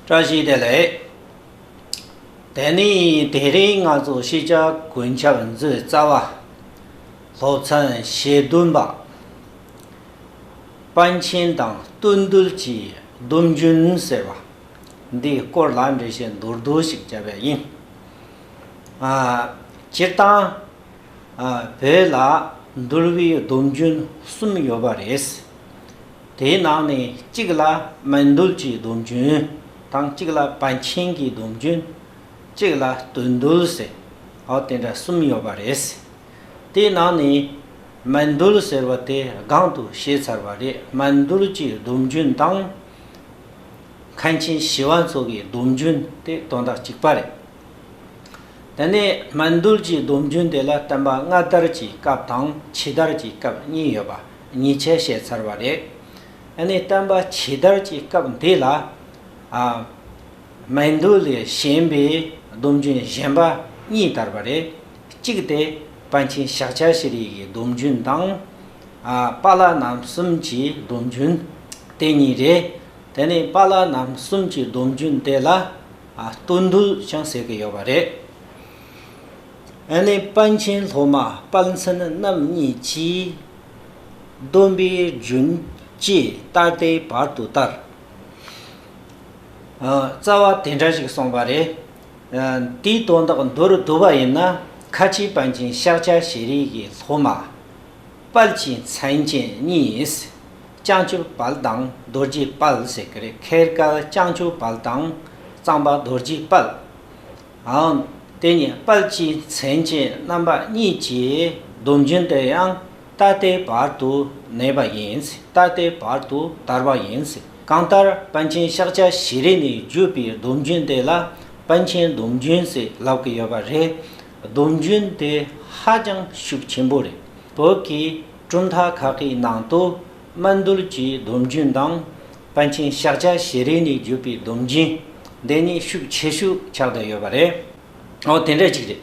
བཀྲ་ཤིས་བདེ་ལེགས། དེ་ནི་དེ་རིང་ང་ཚོ་ཤེས་བྱ་དགུན་ཆར་མཛོད་རྩ་བ། སློབ་ཚན་ཞེ་བདུན་པ། དཔའ་མཆན་དང་བསྟོད་འདུལ་གྱི་སྡོམ་རྒྱུན་ཟེར་བ་འདིའི་སྐོར་ལ་འགྲེལ་བཤད་མདོར་བསྡུས་ཤིག་བྱ་བས་ཡིན། སྤྱིར་བཏང་བོད་ལ་འདུལ་བའི་སྡོམ་རྒྱུན་གསུམ་ཡོད་པ་རེད། དེའི་ནང་ནས་གཅིག་ལ་སྨན་རྡུལ་གྱི་སྡོམ་རྒྱུན་དང་གཅིག་ལ་བད་ཆེན་གྱི་སྡོམ་རྒྱུན། གཅིག་ལ་དུད་འདུལ་ཟེར། ཨོ་དེ་འདྲ་གསུམ་ཡོད་པ་རེད། དེའི་ནང་ནས་སྨན་རྡུལ་ཟེར་བ་དེ་སྒང་དུ་བཤད་ཚར་བ་རེད་སྨན་རྡུལ་གྱི་སྡོམ་རྒྱུན་དང། མཁན་ཆེན་ཞི་བ་འཚོ་གའི་སྡོམ་རྒྱུན་དེ་དོན་དག་གཅིག་པ་རེད། དེ་ནས་སྨན་རྡུལ་གྱི་སྡོམ་རྒྱུན་དེ་ལ་བསྟན་པ་སྔ་དར་གྱི་སྐབས་དང་ཕྱི་དར་གྱི་སྐབས་གཉིས་ཡོད་པ། ཉེས་ཆད་བཤད་ཚར་བ་རེད། ཨ་ནི་བསྟན་པ་ཇི་ལྟར་གྱི་སྐབས་འདི་ལ། སྨན་དུག་ལས་གཞན་པའི་སྡོམ་རྒྱུན་གཞན་པ་གཉིས་དར་བ་རེད། གཅིག་སྟེ་པཎ་ཆེན་ཞག་བཅར་ཤེས་རིག་གི་སྡོམ་རྒྱུན་དང། པཱ་ལགས་རྣམ་གསུམ་གྱི་སྡོམ་རྒྱུན། དེ་གཉིས་རེད། དེ་ནི་པཱ་ལགས་རྣམ་གསུམ་གྱི་སྡོམ་རྒྱུན་དེ་ལ། ལྟོས་འདུལ་ཀྱང་ཟེར་གྱི་ཡོད་པ་རེད། ཨ་ནེ་དཔའ་ཆེན་ལྷོ་མ་དཔའ་མཚན་རྣམ་གཉིས་ཀྱིས། སྡོམ་པའི་རྒྱུན་བཅས་ད་ལྟའི་བར་དུ་བསྟར། རྩ་བ་དེ་འདྲ་ཞིག་སོང་བ་རེད། དེའི་དོན་དག་མདོར་བསྡུ་བ་ཡིན་ན། ཁ་ཆེའི་དཔའ་ཆེན་ཤཱཀ་ཆ་ཤེས་རིག་གི་ལྷོ་མ། དཔལ་གྱི་མཚན་ཅན་གཉིས། བྱང་ཆུབ་དཔལ་དང་རྡོ་རྗེ་དཔལ་ཟེར་གི་རེད་ཁེར་སྐལ་བྱང་ཆུབ་དཔལ་དང་གཙང་པ་རྡོ་རྗེ་དཔལ། འང། དེ་ཉིད་དཔལ་གྱི་མཚན་ཅན་རྣམ་པ་གཉིས་ཀྱི་སྡོམ་རྒྱུན་དེ་ཡང་ད་ལྟའི་བར་དུ་གནས་པ་ཡིན། ད་ལྟའི་བར་དུ་དར་བ་ཡིན། གང་ལྟར་པཎ་ཆེན་ཤཱཀྱ་ཤྲཱི་རི་ནས་བརྒྱུད་པའི་སྡོམ་རྒྱུན་དེ་ལ་པཎ་ཆེན་སྡོམ་རྒྱུན་ཞེས་ལབ་ཀྱི་ཡོད་པ་རེད། སྡོམ་རྒྱུན་དེ་ཧ་ཅང་ཤུགས་ཆེན་པོ་རེད། བོད་ཀྱི་གྲུབ་མཐའ་ཁག་གི་ནང་དུ་དམར་འདུལ་གྱི་སྡོམ་རྒྱུན་དང། པཎ་ཆེན་ཤཱཀ་ཆ་ཞེ་རེ་ནས་བརྒྱུད་པའི་སྡོམ་རྒྱུན། འདི་གཉིས་ཤུགས་ཆེ་ཤོས་ཆགས་བསྡད་ཡོད་པ་རེད། འོ་དེ་འདྲ་ཅིག་རེད།